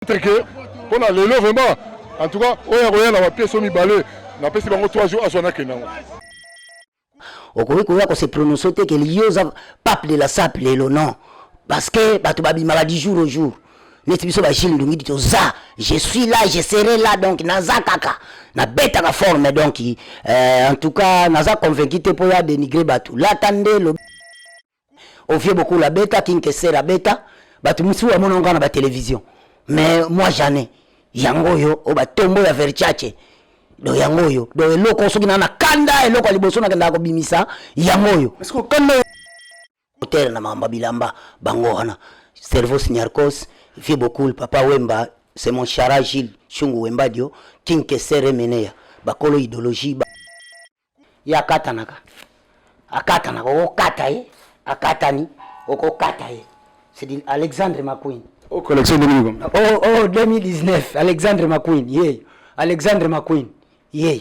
reconnaître que pona lelo vraiment en tout cas oyo akoya na ba pièce oyo mibale napesi bango 3 jours azwa nakenda yango okoki koya ko se prononcer te ke yo oza pape de la sap lelo non parce que bato babimaka du jour au jour neti biso bagile ndongi ti toza je suis là je serai là donc naza kaka nabetaka forme donc euh, en tout cas naza convaincu te mpo ya dénigre bato lata nde Ovie Bokula beta, King Kesera beta, batu mususu bamona yango na ba television. Mais moi jamais. Yango oyo o ba tombo ya Versace. Do yango oyo. Do eloko soki na na kanda eloko ya liboso na kenda ko bimisa yango oyo. Est-ce que kanda hotel na mamba bilamba bango wana. Cerveau Signarcos, Vieux Bokul, Papa Wemba, c'est mon chara Gilles Shungu Wembadio, King Kesera Meneya. Bakolo idéologie ba Ye akatanaka, akatanaka, okokata ye, akatani, okokata ye. C'est dit Alexandre McQueen. O collection 2000 comme. Oh, oh, 2019, Alexandre McQueen, ye. Alexandre McQueen, ye.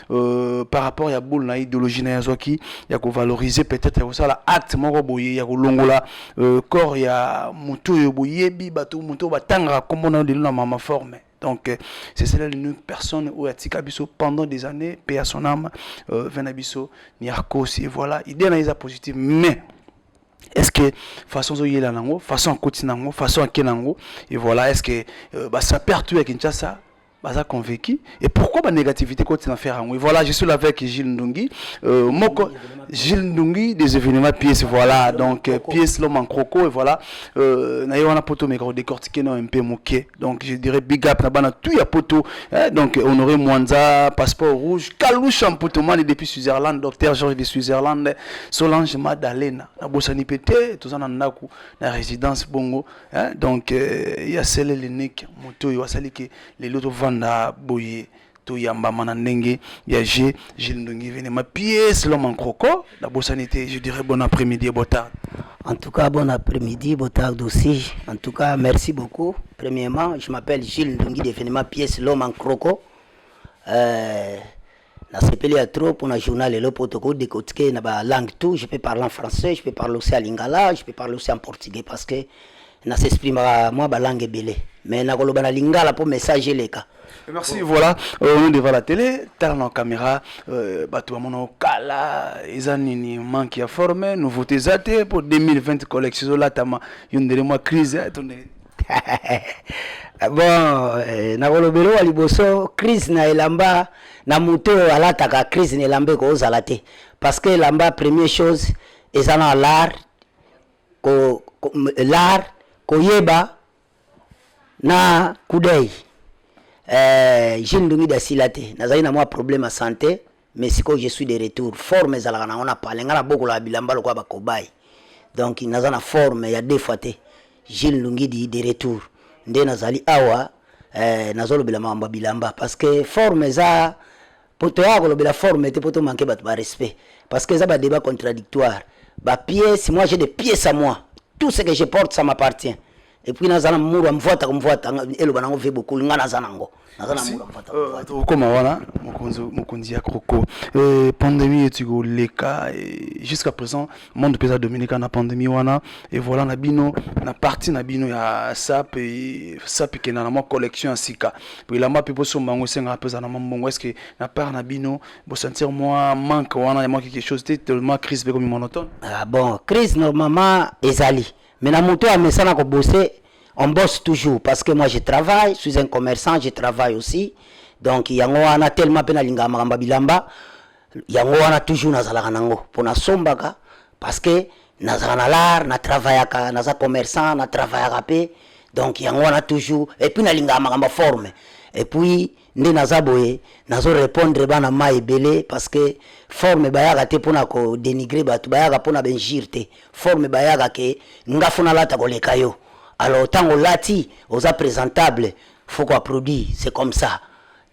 Euh, par rapport ya boule na idéologie na yazwaki ya kovaloriser peut-être ya kosala acte moko boye ya kolongola euh, corps ya moto oyo boyebi bato moto oyo batangaka nkombo na yo lelo na mama forme donc euh, c'est cela une personne oyo atika biso pendant des années pe ya son âme euh, vin na biso niarcos et voilà idée na eza positive mais est ce que façon ozoyela nango façon akoti nango façon ake nango et voilà est ce que euh, basapere tout ya kinshasa baza convaincu et pourquoi ba négativité koti na faire yango voilà je suis là avec Gilles Ndungi euh, moko Gilles Ndungi des événements pièce voilà donc euh, pièce l'homme en croco et voilà euh, na ye wana poto meka ko décortiquer na un peu moke donc je dirais big up na bana tout ya poto hein, donc Honoré Mwanza passeport rouge Kalou Champutomani depuis Switzerland docteur Georges de Switzerland Solange Madalena na bosani pete tozana ndaku na résidence bongo Hein? Donc, euh, ya sele linique moto oyo asali ke lelo tovanda boye toyambama na ndenge ya je Gilles Ndongi vene ma pièce l'homme en croco la bosani te je dirais bon après-midi et bon tard. En tout cas, bon après-midi, bon tard aussi. En tout cas, merci beaucoup. Premièrement, je m'appelle Gilles Ndongi, définitivement pièce l'homme en croco. Euh, Na sepeli ya trop pour na journal lelo po toko decortiquer na ba langue tout. Je peux parler en français, je peux parler aussi en lingala, je peux parler aussi en portugais parce que na s'exprimaka mwa ba langue ebele. Mais na koloba na lingala po message eleka. Merci, voilà, euh, on est devant la télé, tala na caméra, euh, bato ya mono kala, eza nini manque ya forme, nouveauté eza te, po 2020 collection ezolatama, yo ndele mwa crise, eh, to ndele. bon eh, nakolobela wa liboso crise na elamba na moto oyo alataka crise na elamba ekozala te parce que elamba première chose eza na lar ko, ko, lar koyeba na kudei eh, jile ndungi dasila te nazali na mwa problème ya santé mais sikoyo je suis de retour forme ezalaka nango na pale ngai nabokolaka bilamba lokola bakobai donc naza na forme ya deux fois te gile lungidi de retour nde nazali awa eh, nazolobela makambo ya bilamba parce que forme eza po toyaka kolobela forme te po tomanke bato barespect parce que eza badébat contradictoire bapièce moi j'ai des pièces à moi tout ce que je porte ça m'appartient epuis naza na muru ya mvwata komvwata eloba nango vie bokoli ngai naza nango naza na muru ya mvwata komvwata euh, okoma wana mokonzi ya croco euh, pandemie eti koleka jusqu'à présent monde mpe eza dominika na pandemie wana e voilà na bino na parti na bino ya sap sap ekenda na mwa collection ya sika po elamba mpe bosomba yango esengaka mpe eza na mwa mbongo est ce que na part na bino bosentir mwa manque wana ya mwa quelque chose te tellement crise mpe komi monotone ah bon crise normalement ezali Mais na moto amesana ko bosser on bosse toujours parce que moi je travaille, je suis un commerçant, je travaille aussi. Donc yango wana tellement pe nalingaka makambo ya bilamba yango wana toujours nazalaka nango mpo nasombaka parce que nazalaka na lar na travaillaka naza commerçant na travaillaka pe donc yango wana toujours et puis nalingaka makambo ya forme et puis nde naza boye nazo repondre bana ma ebele parce que forme bayaka te mpona ko denigre bato bayaka mpona benjire te forme bayaka ke nga fo nalata koleka yo alors ntango olati oza presentable fo ko produit c'est comme ça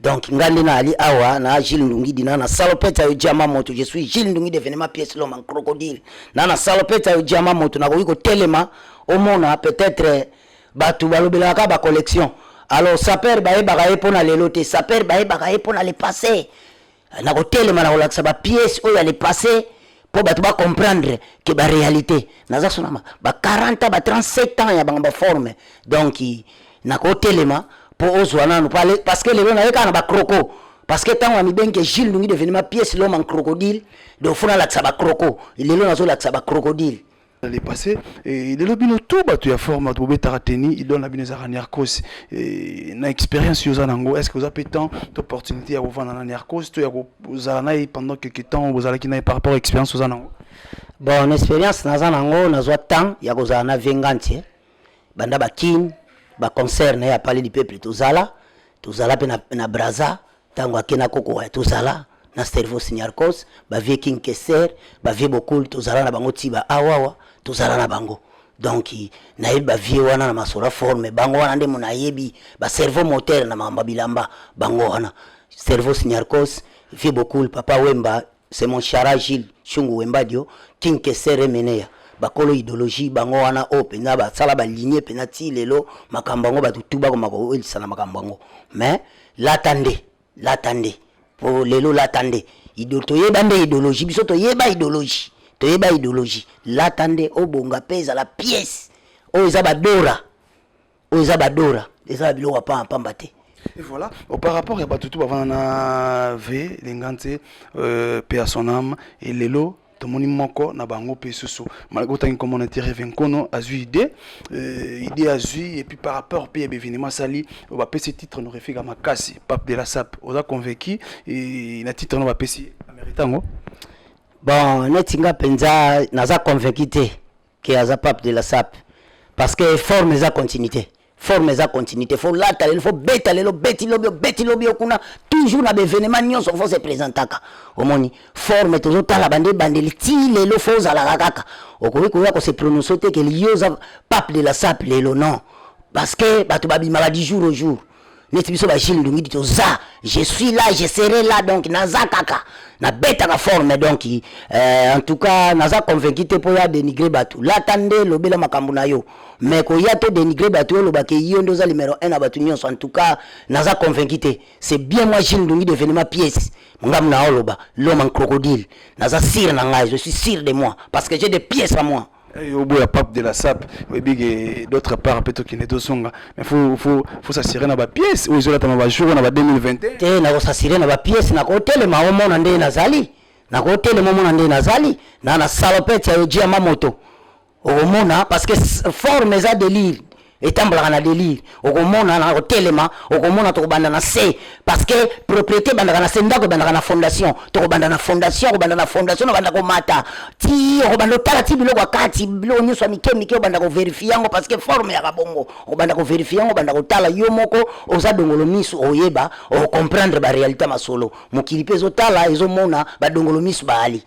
donc nga nde naali awa na gile ndungi dina na salopete ayo diama moto je suis gile ndungi devenema pièce loma crocodile na na salopete ayo diama moto nakoki kotelema omona peut-être Batu balobelaka kaka ba collection. Alors sapeur bayebaka ye pona lelo te, sapeur bayebaka ye pona le passé. Na kotelema na kolakisa ba pièces oyo ya le passé po bato ba comprendre que ba réalité. Naza sonama ba 40 ans, ba 37 ans ya bango ba forme. Donc na kotelema po ozwa nanu parce que lelo na ye kaka na ba croco. Parce que tango amibengi que Gilles Ndungi devenima pièce l'homme en crocodile, donc fona lakisa ba croco. Lelo nazo lakisa ba crocodile. dans le passé et lelo bino tout bato ya forme bato bobetaka teni idole na bino ezalaka nercos na expérience yo oza nango est ce que oza mpe temps to opportunité ya kovanda na nercos to ya kozala na ye pendant quelque temps bozalaki na ye par rapport expérience oza nango bon na expérience naza nango nazwa temps ya kozala na vengantie banda bakine baconcert na ye ya pale du peuple tozala tozala mpe na, na braza Tango ake na koko wa tozala na Servos Niarcos, ba vieux King Kester, ba vieux Bokul tozala na bango ti ba awawa tozala na bango. Donc nayebi ba vieux wana na masolo fort mais bango wana nde mona yebi ba cerveau moteur na makambo ya bilamba bango wana Servos Niarcos, vieux Bokul, papa Wemba, C'est mon chara Gilles Shungu Wembadio King Kesser Emeneya bakolo idologie bango wana oyo mpenza basala balinie mpenza ti lelo makambo yango bato tu bakoma kowelisa na makambo yango mais lata nde lata nde po lelo lata nde toyeba nde idologie biso toyeba idologie toyeba idologie lata nde obonga mpe ezala pièce oyo eza badora oyo eza badora eza na biloko ya pamba pamba te Et voilà, au par rapport ya bato tu bavanda na v linga nse euh, pe ya son âme e lelo tomoni moko na bango mpe susu malgré otangi nkombo na tireve nkono azwi idée euh, idée azwi epuis par rapport mpe ya bevenema asali oyo bapesi titre norefika makasi pape de la sape oza convaincu eh, na titre no bapesi amerita yango bon neti nga mpenza naza convaincu te ke aza pape de la sape parce que forme eza continuité forme eza continuité fo lata lelo fo beta lelo beti lobi obeti lobi okuna toujours na baévénement nyonso fo se présentaka omoni forme tozotala bande ebandeli ti lelo fo ozalaka kaka okoki koya kose prononce te ke liyo oza pape de la sape lelo non parce que bato babimaka du jour au jour neti biso ba Gilles Ndungidi toza je suis là je serai là donc naza kaka nabetaka forme donc euh, en tout cas naza convaincu te mpo ya dénigre bato lata nde lobela makambo na yo mais koya to dénigre bato yo olobaka yo nde oza numero 1 na bato nyonso en tout cas naza convaincu te c'est bien moi Gilles Ndungidi événement pièce ngambo na oloba l'homme en crocodile naza sire na ngai je suis sire de moi parce que j'ai des pièces à moi Eh, au bout la pape de la sape oyebi ke d'autre part mpe tokende tozonga mais faut faut faut s'assurer na bapièce oyo ezolatama bajour na ba 2021 te nakosasire na bapièce nakotelema omona ndenge nazali nakotelema omona ndenge nazali na na salopete ya ojia mamoto okomona parce que forme eza delire etambolaka na delire okomona na kotelema okomona tokobanda na se parce que propriété ebandaka na se ndako ebandaka na fondation tokobanda na fondation okobanda na fondation nobanda komata ti okobanda otala ti biloko ya kati biloko nyonso ya mike mike obanda koverifie yango parce que forme yaka bongo obanda koverifie yango obanda kotala yo moko oza dongolo misu oyeba okomprendre barealité ya masolo mokili mpe ezotala ezomona badongolo misu baali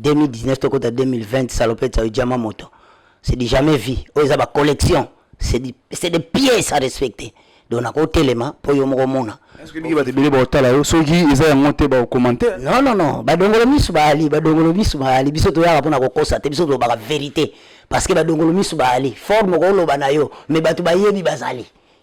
2019 tokota 2020 salopette oyo diama moto c'est du jamais vu oyo eza ba collection c'est du- c'est des pièces à respecter donc nakotelema mpo yo moko omona Est-ce que biki bato ebele baotala yo soki eza yango te baokomante non non non badongolo misu baali badongolo misu baali biso toyaka mpo na kokosa te biso tolobaka verité parce que badongolo misu baali forme okoloba na yo mais bato bayebi bazali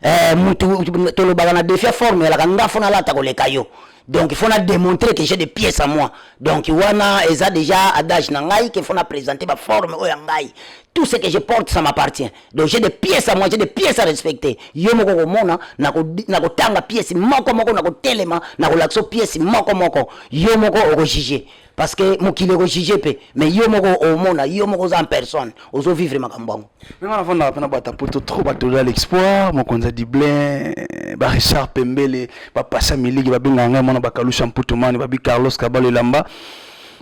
Eh, mutu tolobaka na defia forme elaka nga fona lata koleka yo donc fona démontrer que j'ai des pièces à moi donc wana eza déjà adage na ngai que fona présenter ba forme oyo ya ngai tout ce que je porte ça m'appartient donc j'ai des pièces à moi j'ai des pièces à respecter yo moko komona nakotanga pièce moko moko nakotelema nakolakisa pièce moko moko yo moko okojuge parce que mokili ekojuge mpe mais yo moko omona yo moko oza en personne ozovivre makambo yango Mais on avanda pena bata poto trop bato ya l'exploit mokonza Dublin ba Richard Pembele ba passa miliki ba benga ngai mona ba kalusha mputu mani ba bi Carlos Kabalo elamba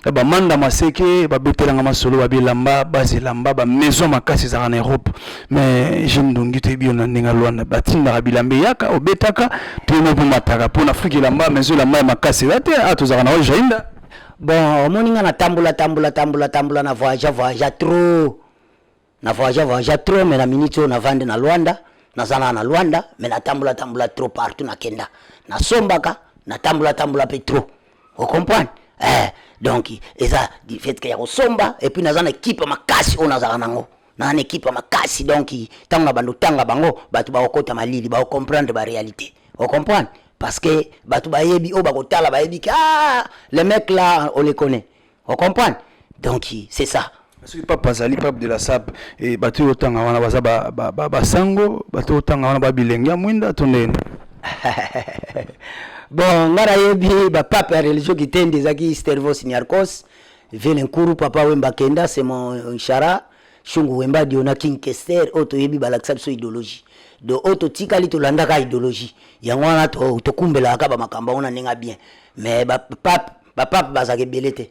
ba manda maseke ba betela nga masolo ba bilamba ba zilamba ba maison makasi zaka na Europe mais je ne dongi te bio na ndinga Luanda ba tinda bilambe yaka obetaka te mo po mataka po na Afrique elamba maison la mai makasi ba te ato zaka na Jainda bon omoni nga na tambola tambola tambola tambola na voyage voyage trop na voyage voyage trop mais na minute oyo navandi na Luanda naza na na Luanda mais natambola tambola trop partout nakenda nasombaka natambola tambola mpe trop o comprendre eh, donc eza du fait que ya kosomba et puis naza na ekipe makasi oyo nazalaka nango naza na ekipe makasi donc ntango na bando tanga bango bato bakokota malili bakocomprendre baréalité o comprendre parce que bato bayebi oyo bakotala bayebi ke ah, le mec là on le connaît o comprendre donc c'est ça soki papa azali pape de la sape e bato oyo otanga wana baza basango bato oyo otanga wana babilenge ya mwinda to ndeni bon ngai nayebi bapape ya religio kitende ezalaki stervos niarcos vele nkuru papa wemba kenda semo nshara shungu wemba diona king kester oyo toyebi balakisa biso idéologie do oyo totikali tolandaka idéologie yango wana tokumbelaka bamakambo yango na ndenge ya bien mais bapape ba pape bazaka ebele te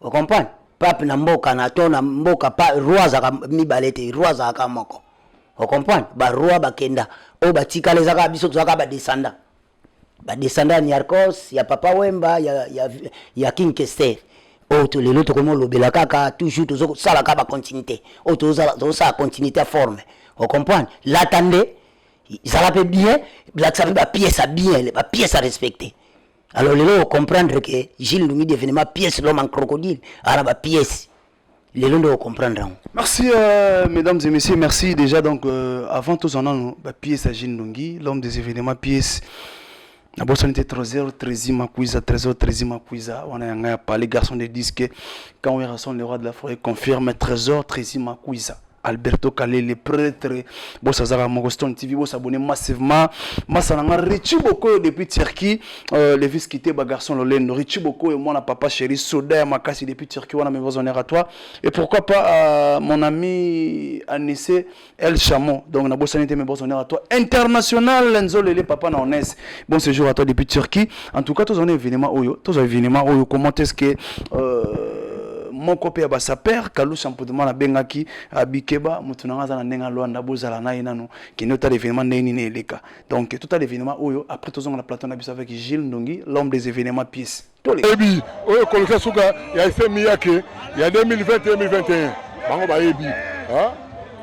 o comprendre pape na mboka na to na mboka pa roi azaka mibale te roi azaka moko o comprendre ba roi bakenda oyo batikala ezaka biso tozaka ba descendant ba descendant ya niarcos ya papa wemba ya, ya, ya king kester oyo oh, lelo tokomi olobela kaka toujours tozosala kaka bacontinuité oyo oh, tozosala continuité ya forme o comprendre lata nde zala mpe bien lakisa mpe bapiese ya bien bapiese ya respecte alors lelo o comprendre que Gilles Ndungi devenement pièce l'homme en crocodile ala ba pièce lelo nde o comprendre yango merci euh, mesdames et messieurs merci déjà donc euh, avant tozwa nano ba pièce ya Gilles Ndungi l'homme des événements pièce nabosani te trésor trési makuiza trésor trési makuiza wana ya ngai ya pale garçon de disque quand werrason le roi de la forêt confirme trésor trési makuiza Alberto Kalele prêtre bosa azaka moko Stone TV bosa abonné massivement masa na nga Richie Bokoyo depuis Turquie euh, le vice quitté ba garçon lolendo Richie Bokoyo mwana papa chéri soda ya makasi depuis Turquie wana mes honneur à toi et pourquoi pas euh, mon ami Anissé El Chamo donc na bosani te mes honneur à toi international Nzolele papa na Onès bon séjour à toi depuis Turquie en tout cas tozwa na événement oyo tozwa événement oyo comment est ce que euh, moko mpe ya basaper kalusa mputuma nabengaki euh, bikeba moto nanga aza na ndenge alwanda bozala na ye nano kende otala événement ndenge nini eleka donc totala événement oyo après tozonga na plateau na biso avec gilles ndongi l'homme des événements pièce toyebi oyo ekolisa suka ya esemi yake ya 2020 2021 bango bayebi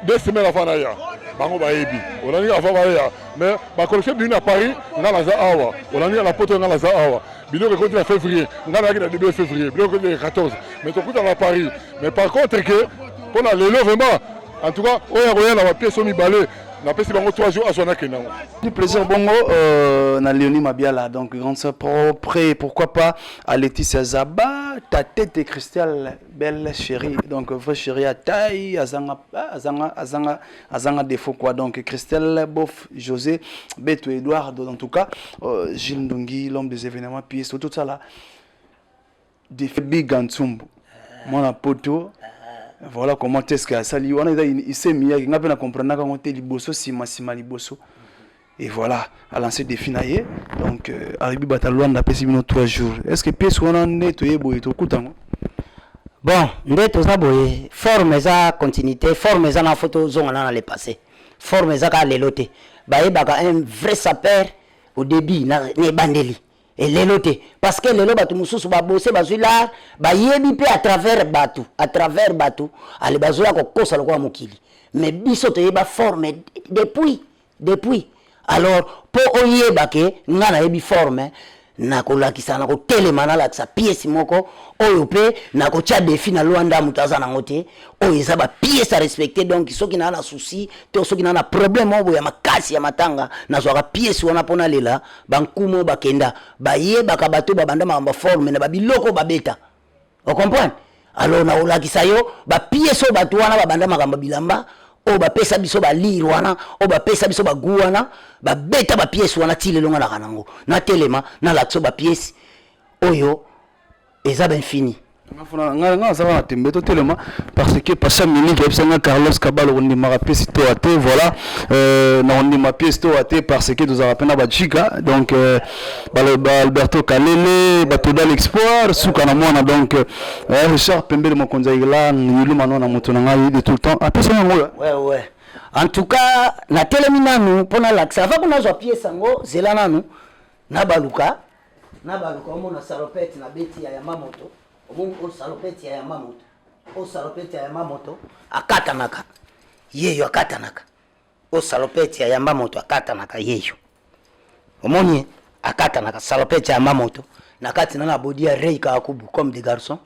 deux semaines avant naya bango bayebi olandi avant baya mais bakolekte bimi na paris ngai naza awa olandi na poto ngai naza awa biloko ekoti na février ngai nayaki na début février biloko ekoti na 14 mais tokutana na paris mais par contre ke mpo na lelo vraiment en tout cas oyo akoya na bapiese oyo mibale napesi bango 3 jours azwa nakenda yango du plaisir bongo euh, na leoni mabiala donc grande sœur propre et pourquoi pas à laetitia zaba ta tête cristal belle chérie donc vrai chérie ya taille azanga azanga azanga azanga défaut quoi donc Christelle Bof José Beto Eduardo en tout cas euh, Gilles Ndongi l'homme des événements puis surtout ça là des big Antsumbu mwana poto voilà comment est-ce que asali wana eza isemiyaki ngai mpe na comprenaka yango te liboso nsima nsima liboso et voilà a lancé défi na ye donc euh, Aribi Bata Luanda apesi bino 3 jours est ce que pièce wana nde toye boye tokuta yango bon nde toza boye forme eza continuité forme eza na fo tozongana na le passé forme eza kaka lelo te bayebaka un vrai sapeur au début na, na ebandeli elelo te parce que lelo bato mosusu babose bazwi lar bayebi mpe à travers bato à travers bato ale bazoya kokosa lokola mokili mais biso toyeba forme depuis Depuis alors po oyeba ke nga nayebi forme nakolakisa nakotelema nalakisa pièce moko oyo mpe nakotya defi na lwanda moto aza nango te oyo eza bapièce a respecte donc soki naa na souci to soki naa na problème oyo ya makasi ya matanga nazwaka pièce wana mpo nalela bankumu oyo bakenda bayebaka bato babanda makambo forme na babiloko babeta ocomprendre alors nakolakisa yo bapiese oyo bato wana babanda makambo bilamba oyo bapesa biso balire wana oyo bapesa biso bagu wana babeta bapiese wana ti lelo nga naka nango natelema nalakisa bapiese oyo eza bainfini ngai naza wana tembe totelema parce que pasha miniki ayebisa ngai carlos kabal okondimaka piesi toa te voilà euh, na kondima piesi toa te parce que tozalaka mpe na bajika donc euh, baloba alberto kalele batoda l'expoir suka na mwana donc euh, eh, richard pembele mokonzi ya irlande yiluma no na moto na ngai de tout le temps apesa yango oyo ouais, ouais. en tout cas natelemi nanu mpo nalakisa ava kuna azwa piese yango zela nanu nabaluka nabaluka omona salopete na beti ya yama moto omoni o salopete ya yama moto o salopete ya yama moto akatanaka yeyo akatanaka Oyo salopette ya yamba moto akatanaka yeyo. Omoni ye? Akatanaka salopette ya yamba moto. Na kati na na body ya Ray Kakubu comme des garçons.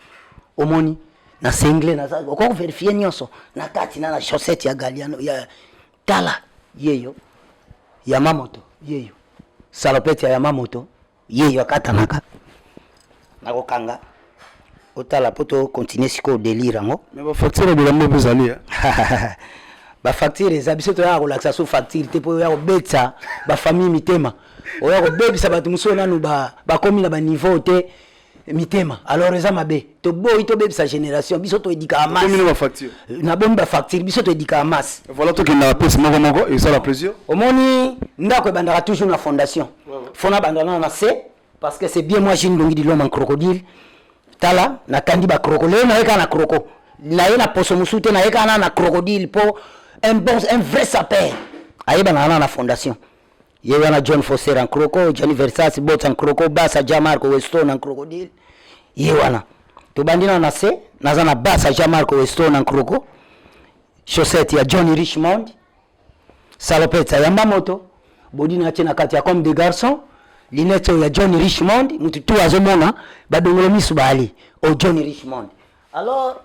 Omoni? Na single na za oko verifier nionso na kati na na chaussette ya Galiano ya tala yeyo. Yama moto yeyo. Salopette ya yama moto. ye yo akatanaka nakokanga otala mpo tocontinue sikoyo delire yango me bafacture bilambo mpe ezali eh? bafacture eza biso toyaka kolakisa so facture te mpo oya kobetisa bafamille mitema oya kobebisa bato mosusu nanu bakomi na baniveau te mitema alors eza mabe toboyi tobebisa génération biso toedikaka masna euh, bomi bafacture biso toedikaka masse voilà tokendaka pese moko moko esala plaisir omoni ndako ebandaka toujours na fondation fona abanda nana na se parce que c'est bien moi jine longi diloma en crocodile tala nakandi bakroko lelo naye kaka na kroko naye na poso mosusu te naye kaka nana na crocodile mpo un bon un vrai sapeur ayebanaka nana na fondation Ye wana John Foster en croco, Gianni Versace, Botsa en croco, Bassa, Gianmarco, Weston en crocodile. Ye wana. Tobandi na na se, naza na Bassa, Gianmarco, Weston en croco. Chaussette ya Johnny Richmond. Salopette ya yamba moto. Body na tie na kati ya comme des garçons. Lunettes oyo ya Johnny Richmond, mutu tu azomona badongolo misu baali o Johnny Richmond. Alors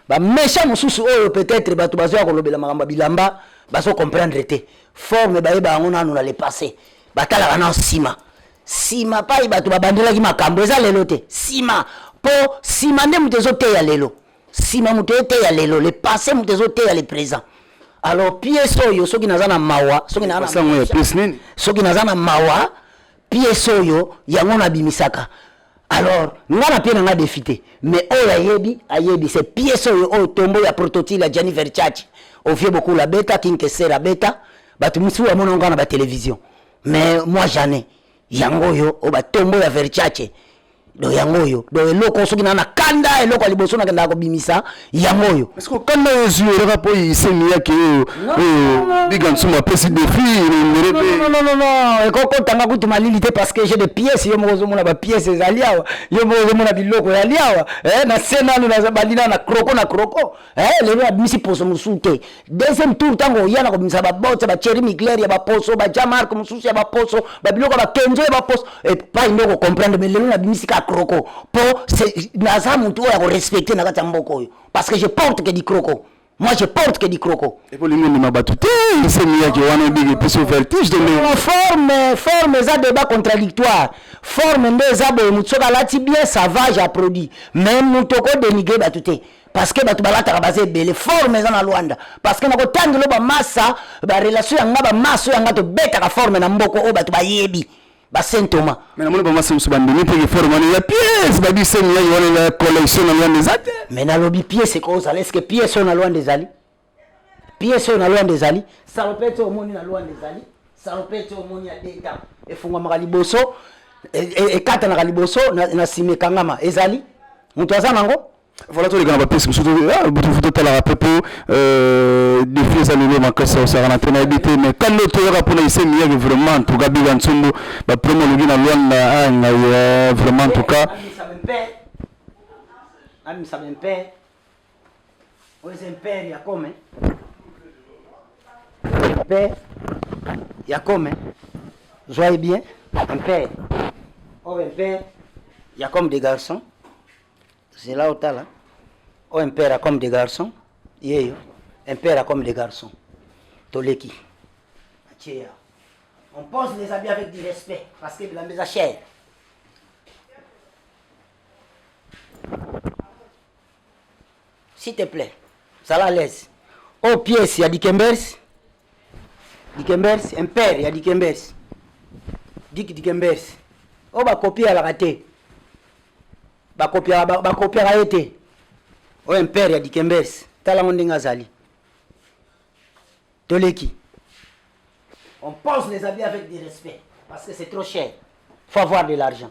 ba méchant mosusu oyo peut-être bato bazoya kolobela makambo ya bilamba bazo comprendre te forme bayeba yango nanu na le passé batalaka na nsima nsima pai bato babandelaki makambo eza lelo te nsima mpo nsima nde moto ezoteya lelo nsima moto eteya lelo le passé moto ezoteya le présent alors piese oyo soki naza na mawa soki naza na Basa yango ya méchant, pièce nini soki naza na mawa piese oyo yango nabimisaka alors nga na pie na nga defi te mais oyo ayebi ayebi se piese oyo oyo tombo ya prototile ya jani verchachi ovie bokula abeta kinkeser abeta bato mosusu bamona ngo na batelevision mais moi jane yango oyo oyo batombo ya verchache do yango oyo do eloko soki naa na kanda eloko ya liboso nakendaka kobimisa yango oyo kanda ezwi yo kaka mpo isemi yake oyo oyo biga nsuma apesi defi elongele mpe ekokotanga kutu malili te parce que j'ai des pièces yo moko ozomona bapièce ezali awa yo moko ozomona biloko yali awa eh, na se nanu balina na kroko na kroko eh, lelo abimisi poso mosusu te deuxième tour ntango oya na kobimisa babote bacheri migler ya baposo bajamark mosusu ya baposo babiloko ya bakenzo ya baposo epai nde okocomprendre me lelo nabimisi kaka kroko mpo naza motu oyo akorespecte na kati ya mboka oyo parce que je porte que di kroko Moi, je porte que du croco. Et pour les gens qui battu, c'est mieux que on dit que c'est vertige de nous. Forme, forme, ça débat contradictoire. Forme, mais ça, bon, nous sommes là, bien, ça va, j'ai produit. Même nous, toko dénigré, bah, tout est. parce que bato balataka baza ebele forme eza na lwanda parce que nakotangi lo bamasa barelation ya nga bamaso ya nga tobetaka forme na mboko oyo bato bayebi basaint thomas mais namoni bamasa mosusu bandimi mpeke forme wana ya piese babi semi ya yowana ya collection na lwanda eza te mais nalobi piese ekozala eske piese oyo na lwanda ezali Pièce oyo na Luanda ezali salopette oyo omoni na Luanda ezali salopette oyo omoni ya deta efungwamaka liboso e, e, ekatanaka liboso na nsima ekangama ezali moto aza nango voilà toleka na bapesi mosusu butufu totalaka mpe mpo defi eza lelo makasi osaka na te nayebi te mais kando toyaka mpona ise miyake vraiment en tout cas biga nsumbu bapromo olobi na luanda a ngai vraiment en tout cas amisa bempe Oyo eza impere ya kome. Impere ya kome. Zoye bien. Impere. Oyo impere ya comme des garçons. Zela otala. Oyo impere ya comme des garçons. Yeyo. Impere ya comme des garçons. Toleki. Acheya. On pose les habits avec du respect parce que bilamba eza cher. s'il te plaît zala à l'aise oyo oh, pièce ya dikembers dikembers impere ya dikembers diki dikembers oyo oh, bakopi alaka te bakopiaka ye te oyo oh, impere ya dikembers tala yango ndenge azali toleki on pose les habits avec du respect parce que c'est trop cher faut avoir de l'argent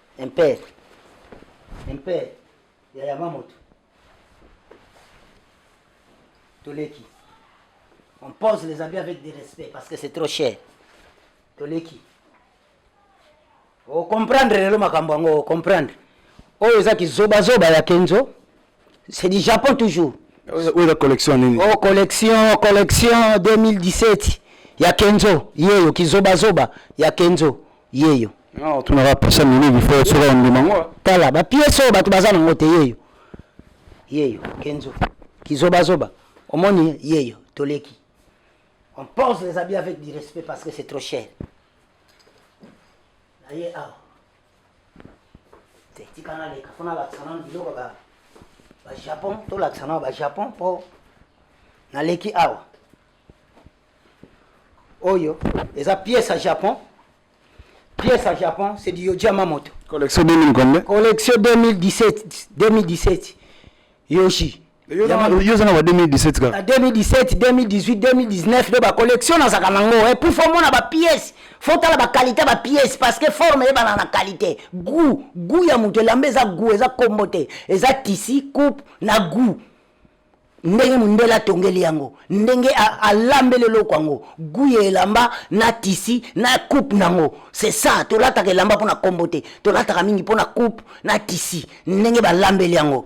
Mpe mpe ya yaba moto toleki on pose les habits avec du respect parce que c'est trop cher toleki ocomprendre lelo makambo yango ocomprendre oyo eza kizobazoba ya kenzo C'est du Japon toujours. Oyo la collection nini? Oh collection, collection 2017 ya Kenzo, yeyo kizoba zoba ya Kenzo, yeyo. Non, tu n'auras pas ça mingi, il faut sera on mango. Tala ba pièces oyo batu baza nango te yeyo. Yeyo Kenzo. Kizoba zoba. Omoni yeyo toleki. On pose les habits avec du respect parce que c'est trop cher. Aïe, ah. tika naleka mpo nalakisa nano biloko ba bajapon tolakisa nao bajapon mpo naleki awa oyo eza pièce ya japon pièce ya japon c'est du yoji yamamoto collection 2000 combien collection 2017 2017 yoshi yo oza na ba 2017 kaka 2017 2018 2019 nde bacollection nazalaka nango e eh, pour fo omona bapièce fo otala baqualité bapièce parce que forme eyebana na qualité gout gout ya moto elamba eza gout eza kombo te eza tisi coupe na gout ndenge mondele atongeli yango ndenge alambeli eloko yango gu ya elamba na tisi na coupe nango c'est ça tolataka elamba mpo na kombo te tolataka mingi mpo na coupe na tisi ndenge balambeli yango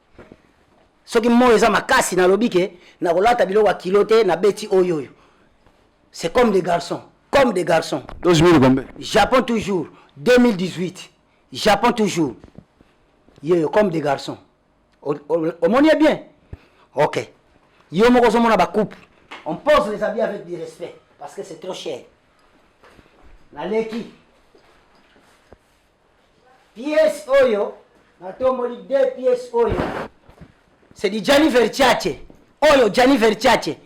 soki moi eza makasi nalobi ke nakolata biloko ya kilo te nabeti oyo oyo c'est comme des garçons comme des garçons 12 000 combien japon toujours 2018 japon toujours yeyo comme des garçons omoni ye bien ok yo moko ozomona bacoupe on pose les habits avec du respect parce que c'est trop cher naleki Pièce oyo natomboli deux pièces oyo c'est du Gianni Versace oyo Gianni Versace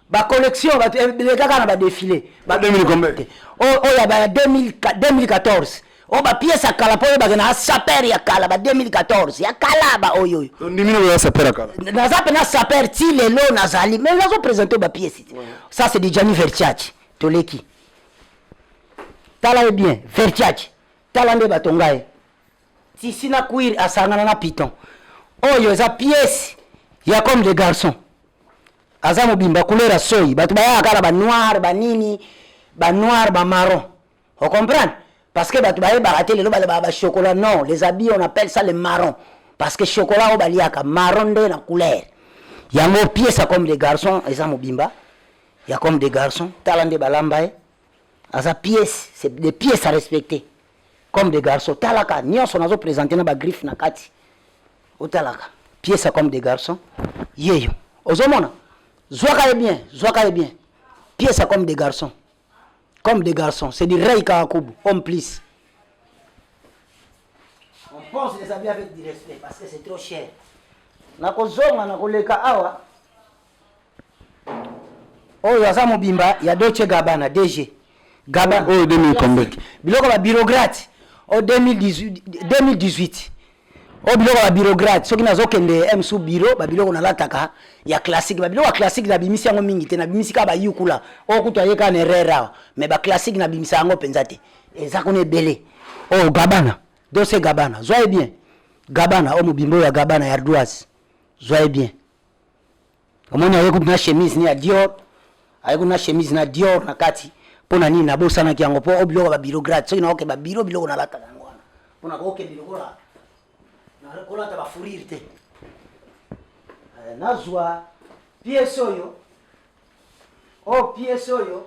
ba collection bato elekaka na ba défilé ba Dominique Gombe. te oyo oyo ya ba ya 2000 2014 oyo ba pièces ya kala mpo oyebake na saper ya kala ba 2014 ya kala ba oyo oyo ondimi na koya sapere kala naza mpe na saper ti lelo nazali mais nazo présente ba pièces te. ça c'est du Gianni Versace toleki tala ye bien Versace tala nde bato ngai tisi na cuir asangana na piton oyo eza pièce ya comme de garçon aza mobimba couleur ya soyi bato bayaka kaka banoir banini banoir bamaron ocomprendre parce que bato bayebaka te lelo balobaka bachocolat non les habits on appelle ça le maron parce que chocolat oyo baliaka maron nde na couleur yango pièce ya comme de garçon eza mobimba ya comme de garçon tala nde balamba ye aza pièce c'est des pièces à respecter comme des garçons talaka nyonso nazo présenter na ba griffe na kati otalaka pièce comme des garçons yeyo ozomona zwaka ye bien zwaka ye bien pièce comme des garçons comme des garçons c'est du rey kawakubu homme plus on pense les habits avec du respect parce que c'est trop cher nakozonga nakoleka awa oyo aza mobimba ya Dolce Gabbana DG Gabbana oyo 2000 combien biloko ba bureaucrate o 2018 2018 oyo biloko ya bureaucrate soki nazokende msu bureau babiloko nalataka ya classique babiloko ya classique nabimisi yango mingi te nabimisi kaka bayukula oyo kutu ayeka na erreur awa mais baclassique nabimisa yango mpenza te eza kuna ebele oyo oh, gabana dose gabana zwa ye bien gabana oyo oh, mobimba oyo ya gabana ya ardoise zwa ye bien omoni aye kutu na chemise ni ya dior aye kutu na chemise na dior na kati mpo na nini nabosanaki yango mpo o biloko ya babiro grade soki naoke babiro biloko nalataka yango wana mpo na kokende lokola kolata bafurire te eh, nazwa piese oyo o oh, piese oyo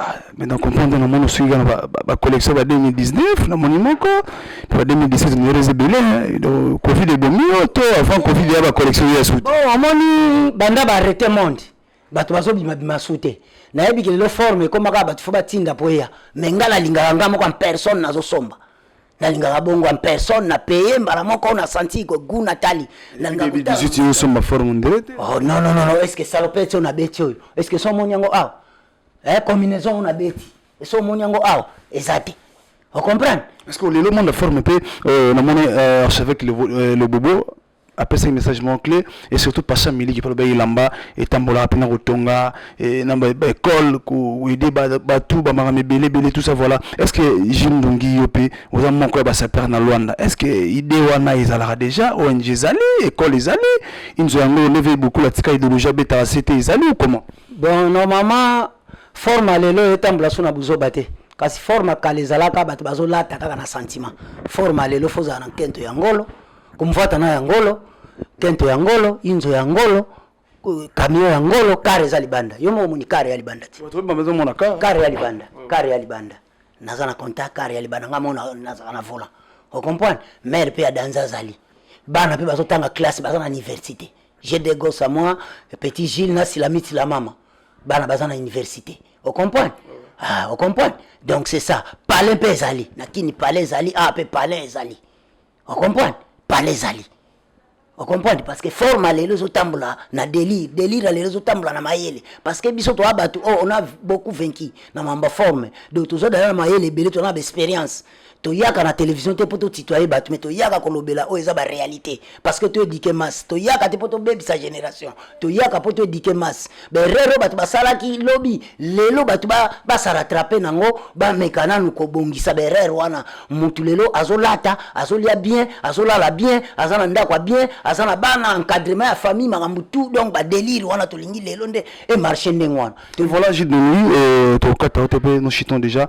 Ah, mais na comprendre na moni osuki kaka bacollection ba 2019 na moni moko ba 2017 niereza ebele covid ebomi yo to avant covid ya bacollection ya suti bon omoni banda baarrete monde bato bazobimabima su te nayebi ke lelo forme ekomaka bato fo batinda mpo eya mai ngai nalingaka ngai moko en personne nazosomba nalingaka bongo en personne na paye mbala moko na santi gu natali nalingaka osomba forme nde oh, non non non est ce que salopete oyo nabeti oyo est ce que so omoni yango awa ah. eh combinaison oyo nabeti esi omoni yango awa eza te ocomprendre parce que lelo monde forme mpe euh, namoni euh, archevêque le, euh, le bobo apesaki message moko clé et surtout pasha miliki mpe alobaki elamba etambolaka mpe na kotonga eh, na baekole koede bato bamakambo ebele ebele tout ça voilà est ce que jules ndongi yo mpe oza moko ya basapere na luanda est ce que idée wana ezalaka déjà ong ezali ekole ezali inzo yango leve bokula tika idéologie abetaka sete ezali ou comment donc normalement forme lelo etambola so na buzoba te kasi forme kala ezalaka bato bazolata kaka na sentiment forme lelo fozala na nkento ya ngolo komvata na ya ngolo nkento ya ngolo inzo ya ngolo camion ya ngolo kare eza libanda yo moko omoni kare ya libanda te kare ya libanda kare ya libanda naza na contact kare ya libanda ngai moko nazala na volant ocomprendre mare mpe ya danza azali bana mpe bazotanga classe baza na université j'ai des gosses à moi petit Gilles na silamiti la mama bana baza na université au comprendre ah au comprendre donc c'est ça palais mpe ezali na kini palais ezali ah mpe palais ezali au comprendre palais ezali au comprendre parce que forme ya lelo ezotambola na délire délire ya lelo ezotambola na mayele parce que biso toa bato oyo oh, on a beaucoup vaincu na mambo forme donc toza dala na mayele ebele toza na baexpérience toyaka na télévision te mpo totitoye bato me toyaka kolobela oyo eza baréalité parce que toedike masse toyaka te mpo tobebisa génération toyaka mpo toedike masse berere oyo bato basalaki lobi lelo bato basaratrape na yango bameka nanu kobongisa berere wana motu lelo azolata azolia bien azolala bien aza na ndako ya bien aza na bana encadrement ya famille makambo tout donc badelire wana tolingi lelo nde emarche ndenge wana voilà jidoni euh, tokokata yo te mpe nous chitons déjà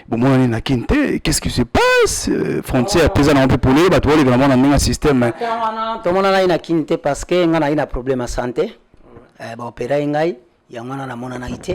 bomonani na kin te qu'est ce qui se passe euh, frontière mpe eza nango mpe polele bato baleka nango na ndenge ya système tomonana ye na kin te parce que ngai naye na problème ya santé eh, baopera ye ngai yango wana namonanaki te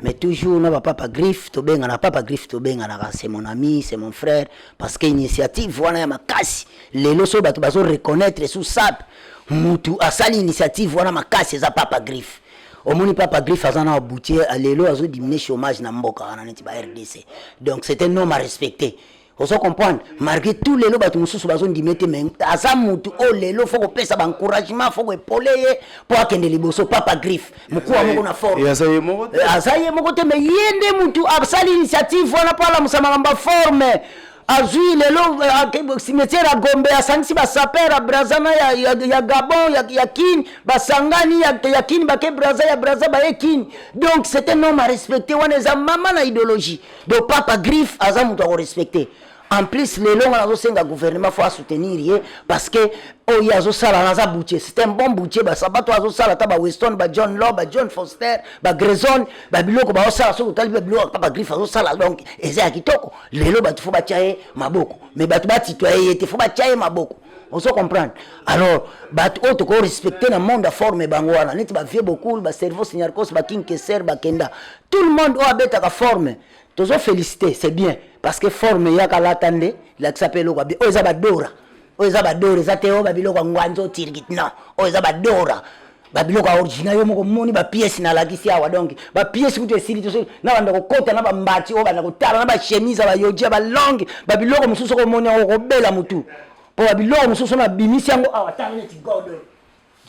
mais toujours na bapapa griffe tobengana papa griffe tobenganaka c'est mon ami c'est mon frère parce que initiative wana ya makasi lelo so bato bazo reconnaître sous sape mutu asali initiative wana makasi eza papa griffe omoni papa griffe aza na aboutier lelo azo diminue chômage na mboka wana neti ba rdc donc c'est un homme à respecter ozo comprendre malgré tout lelo bato mosusu bazondima ete me aza motu oyo lelo fo kopesa baencouragement fo koepole ye mpo akende liboso papa griffe mokuwa moko na fort aza ye moko te me ye nde motu asali initiative wana mpo alamusa makambo ya forme azwi lelo euh, cimetière ya gombe asangisi basaper ya braza na ya, ya, ya gabon ya, ya kin basangani ya, ya kin bake braza ya braza baye kin donc c'est un homme à respecter wana eza mama na idéologie donc papa griffe aza moto ya korespecte en plus lelo nga nazosenga gouvernement fo asoutenir ye parce que oyo azosala naza boutier c'est un bon boutier basabato azosala ata baweston bajohn law bajohn foster bagrezone babiloko baosala soki otali babiloko papa griffe azosala donc eza ya kitoko lelo bato fo batya ye maboko me bato batitoye ye te fo batya ye maboko ozo comprendre alors bato oyo toko respecte na monde aforme bango wana neti bavie bokul bacerveau signarcos bakinkeser bakenda tout le monde oyo abetaka forme tozo félicité c'est bien parce que forme eyaka lata nde lakisa mpe eloko abi oyo eza badora oyo eza badora eza te oyo babiloko ya ngwanzo tirgit non oyo eza badora babiloko ya origina yo moko moni bapiese nalakisi awa donc bapiese kutu esili te soki nabanda kokota na bambati oyo banda kotala na bachemise ya bayoji ya balonge babiloko mosusu okomoni yango okobela motu mpo babiloko mosusu na bimisi yango awa tala neti godo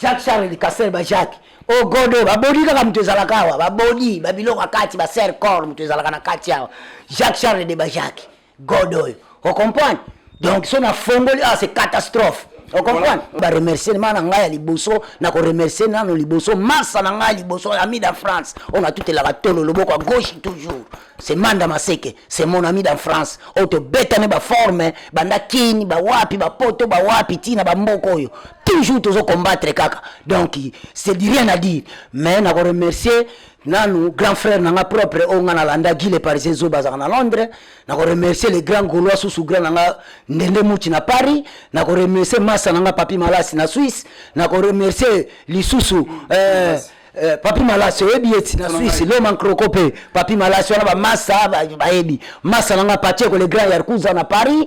jacques charles castel ba jacques o oh, godo babodi kaka moto ezalaka awa babodi babiloko ya kati baser corps moto ezalaka na kati awa jacques charles de ba jacques god oyo ocomprendre donc so na fongoli ah c'est catastrophe ocomprendre baremercie ma na ngai ya liboso na koremercie nano liboso masa na ngai ya liboso ami da france oyo natutelaka tolo loboko ya gauche toujours c'est manda maseke c'est mon ami da france oyo tobetane baforme banda kini bawapi bapoto bawapi ntina bamboka oyo toujours tozo combattre kaka donc c'est du rien à dire mais na koremercie nanu grand frère na nga propre oyo nga nalanda guy le parisien zoba azalaka na londres na koremercier le grand gaulois susu grand na nga ndende muti na paris na koremercier masa na nga papi malasi na suisse na koremercier lisusu eh, eh, papi malasi oyebi ye ti na suisse loma nkroko mpe papi malasi wana bamasa ba- bayebi masa na nga pacheco le grand yarkuza na paris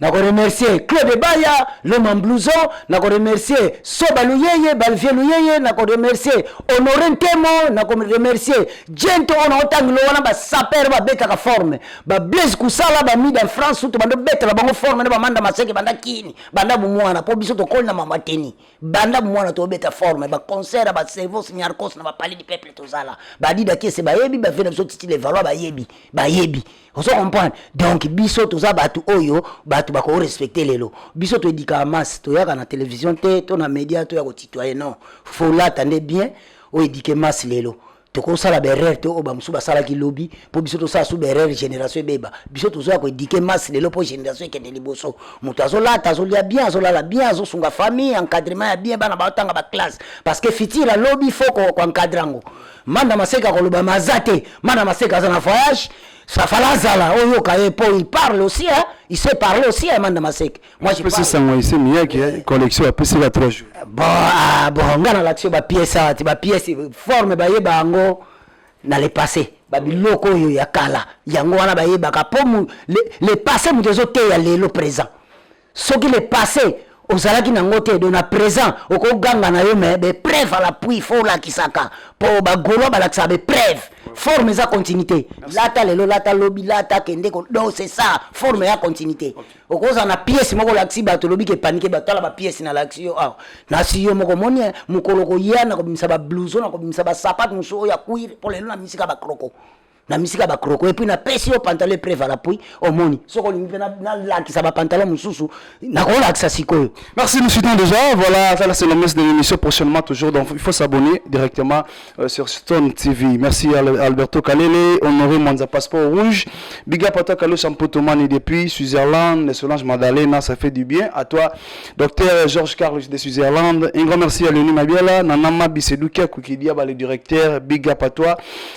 na ko remercier Claude Baya l'homme en blouson na ko remercier Soba Luyeye Balvier Luyeye na ko remercier Honore Ntemo na ko remercier Gento ona otangilo wana ba sapeur ba betaka forme ba Blaise Kusala ba Mida France tout bando betela bango forme na ba Manda Maseke banda kini banda bumwana po biso tokoli na mama teni banda bumwana to beta forme ba concert ba Servos Nyarkos na ba Palais du Peuple tozala ba Dida Kiese bayebi ba Vena biso Titi Levallois bayebi bayebi ozo comprendre donc biso toza bato oyo bato bako respecte lelo biso toedika masse toyaka na télévision te to na média toya kotitoye non faut lata nde bien oedike masse lelo tokosala berere te oyo bamosusu basalaki lobi mpo biso tosala su berere génération ebeba biso tozoya koedike masse lelo mpo génération ekende liboso moto azolata azolia bien azolala bien azosunga famille encadrement ya bien bana baotanga baklasse parce que futur alobi fo koencadre yango manda maseka koloba ma aza te manda maseka aza na voyage safala azala oyoka ye mpo il parle aussi hein? il sait parler aussi hein, manda maseka moi je pesi sango ese miyaki eh, collection apesi ka 3 jours bon ah, bon nga nalakisi yo bapiese awa ti bapiese forme bayeba yango na le passé babiloko oyo ya kala yango wana bayebaka mpo le, le passé moto ezoteya lelo présent Soki le passe ozalaki na ngo te donc na present oko ganga na yo mais be preuve à l'appui faut olakisaka po ba golois balakisaka be preuve forme eza continuité lata lelo lata lobi lata kende ko donc c'est ça forme ya continuité okozala na pièce moko olakisi bato olobi ke panike bato tala ba pièce na lakisi yo awa na si yo moko moni eh, mokolo koya na kobimisa ba blouson na kobimisa ba sapate mosusu oyo ya cuir po lelo na misika ba kroko na misika ba croko epuis napesi yo pantalon epre valapui omoni soko olingi mpe nalakisa bapantalon mosusu nakolakisa sikoyo merci nous suivons déjà voilà ça c'est le messe de l'émission prochainement toujours donc il faut s'abonner directement euh, sur stone tv merci à alberto kalele honoré mwanza passeport rouge biga pata kalo champotomani depuis switzerland solange madalena ça fait du bien à toi docteur georges carlos de switzerland un grand merci à leoni mabiala nanama bisedukia kukidia bale directeur biga patois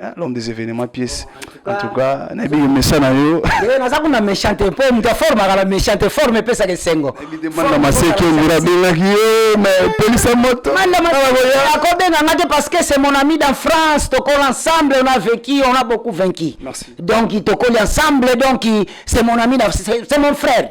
Hein, l'homme des événements pièce en tout cas na biyo mesa na yo eh, naza kuna méchante mpo moto aformaka na méchante forme epesaka esengo manda maseki ondira abengaki ye mais polisa moto akobenga nga te parce que c'est mon ami dans france tokoli ensemble on a vécu on a beaucoup vaincu donc tokoli ensemble donc c'est mon ami c'est mon frère